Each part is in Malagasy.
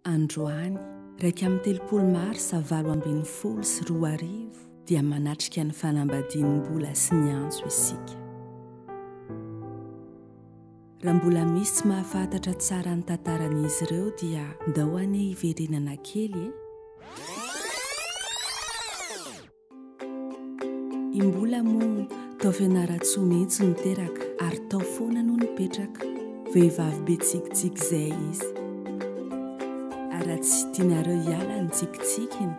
Androany, iraika amby telopolo marsa valo ambin'ny folo sy roa arivo, dia manatrika ny fanambadian'Imbola sy ny Antso isika. Raha mbola misy tsy mahafantatra tsara ny tantaran'izy ireo dia ndao anie hiverenana kely e! I Mbola moa tao Fianarantsoa mihitsy no teraka ary tao foana no nipetraka. Vehivavy be tsikitsiky izay izy. Ary raha tsy tianareo hiala ny tsikitsikiny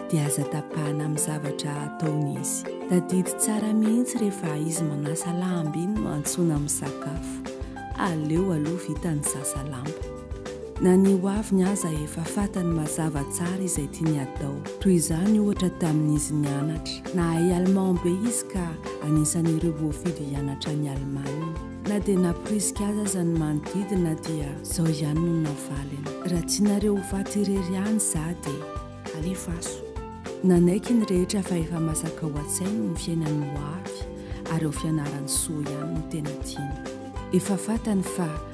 dia aza tapahana amin'ny zavatra ataony izy. Tadidy tsara mihitsy rehefa izy manasa lamba iny no antsoina misakafo. Aleo aloha vita ny sasa lamba. Na ny ho aviny aza efa fatany mazava tsara izay tiany hatao. Toy izany ohatra tamin'izy nianatra. Nahay allemand be izy ka anisan'ireo voafidy hianatra any Allemagne. Na dia namporisika azy aza ny manodidina dia izao ihany no navaliny, Raha tianareo ho faty irery ihany za dia. Alefaso. Nanaiky ny rehetra fa efa masaka ao an-tsainy ny fiainany ho avy ary ho fianarany soa ihany no tena tiany. Efa fatany fa.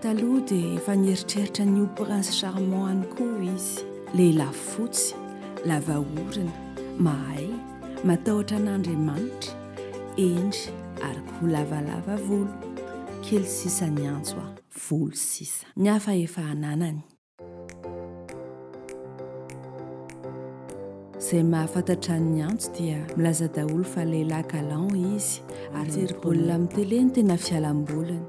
Taloha dia efa nieritreritra ny ho prince charmant any koa izy. Lehilahy fotsy, lava orona, mahay, matahotra an'Andriamanitra, hendry ary koa lavalava volo. Kely sisa ny antso a! Volo sisa. Ny hafa efa ananany. Zay mahafantatra an'i Niantso dia milaza daholo fa lehilahy galant izy ary mijery baolina amin'ny télé no tena fialamboliny.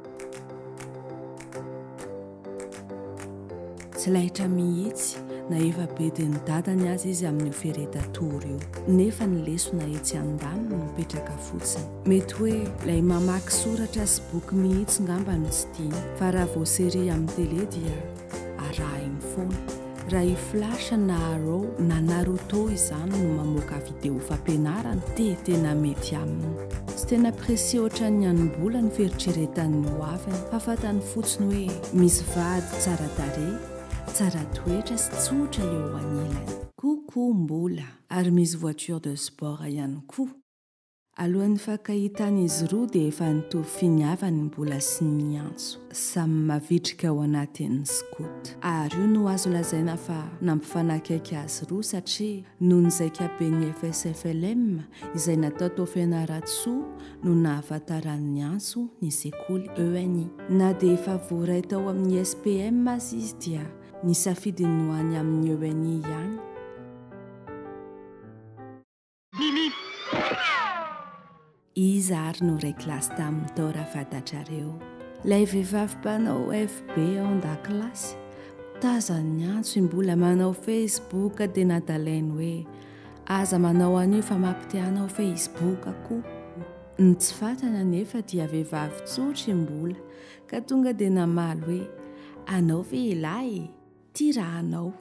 Tsy lahitra mihitsy na efa bedin'ny dadany aza izy amin'io fereta tour io nefa ny lesona etsy andaniny mipetraka fotsiny. Mety hoe ilay mamaky soratra sy boky mihitsy ngamba no tsy tiany, fa raha vao série amin'ny télé dia arahiny foana. Raha i Flash na Arrow na Naruto izany no mamoaka vidéo fampianarana dia tena mety aminy. Tsy tena précis ohatran'ny hanim-bola ny fieritreretan'ny ho aviny fa fantany fotsiny hoe misy vady tsara tarehy, tsara toetra sy tsotra eo anilany. Coucou Mbola! Ary misy voiture de sport ihany koa! Alohan'ny nifankahitana izy roa dia efa nitovy finiava ny mbola sy ny miantso samy mavitrika ao anatin'ny scout. Ary io no azo lazaina fa nampifanakaiky azy roa satria noho ny zaikaben'ny FSFLM izay natao tao Fianarantsoa no nahafantaran'ny antso ny sekoly ENI. Na dia efa voaray tao amin'ny SPM aza izy dia ny safidiny no any amin'ny ENI ihany. Iza ary no reclass taminy tao raha fantatrareo? Ilay vehivavy mpanao FB ao an-dakilasy? Tazan'ny antso i Mbola manao Facebook dia natalainy hoe aza manao an'io fa mampite-hanao Facebook koa. Ny tsy fantany anefa dia vehivavy tsotra i Mbola ka tonga dia namaly hoe anao ve ilay? Ty raha anao.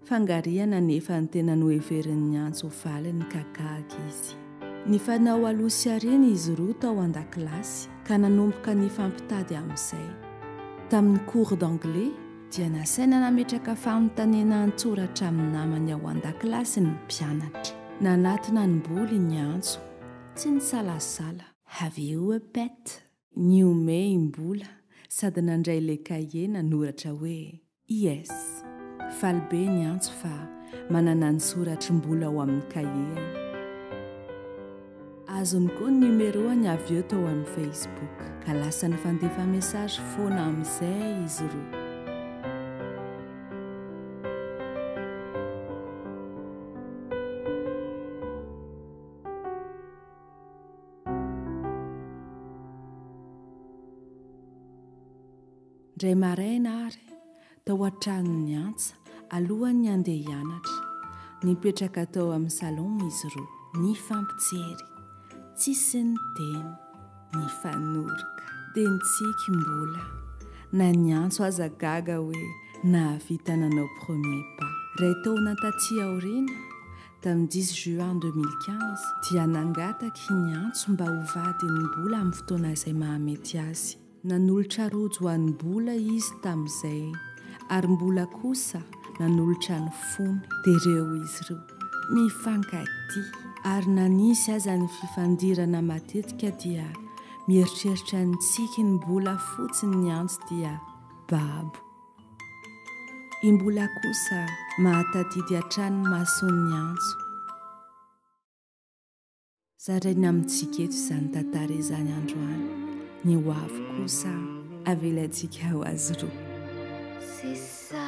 Fangarihana nefa ny tena noheveriny niantso ho valiny ka gaga izy. Nifanao aloha sy aoriana izy roa tao an-dakilasy ka nanomboka nifampitady amin'izay. Tamin'ny cours d'anglais dia nasaina nametraka fanontaniana an-tsoratra amin'ny namany ao an-dakilasy ny mpianatra. Nanatona ny boliny antso. Tsy nisalasala. Have you a pet? Nihomehy mbola sady nandray le cahier nanoratra hoe IS. Faly be ny antso fa manana ny soratry mbola ao amin'ny cahier-ny. Azony koa ny numéro-ny avy eo tao amin'ny Facebook ka lasa nifandefa message foana amin'izay izy roa. Indray maraina ary tao an-tranon'ny antsa alohan'ny handeha hianatra. Nipetraka tao amin'ny salon izy roa, nifampijery, tsisy niteny, nifanoroka. Dia nitsiky mbola. Na ny antso aza gaga hoe nahavita nanao premier pas. Iray taona taty aoriana, Tamin'ny dix juin deux mille quinze dia nangataky ny antso mba ho vadin'ny bola amin'ny fotoana izay mahamety azy. Nanolotra rojo an'ny bola izy tamin'izay, ary mbola kosa nanolotra ny fony. Dia ireo izy ireo mifankatia, ary na nisy aza ny fifandirana matetika dia mieritreritra ny tsiky ny bola fotsiny ny antso dia babo. Imbola kosa mahatadidy hatrany ny mason'ny antso. Zaraina amintsika eto izany tantara izany androany. Ny ho avy kosa avelantsika ho azy roa. C'est ça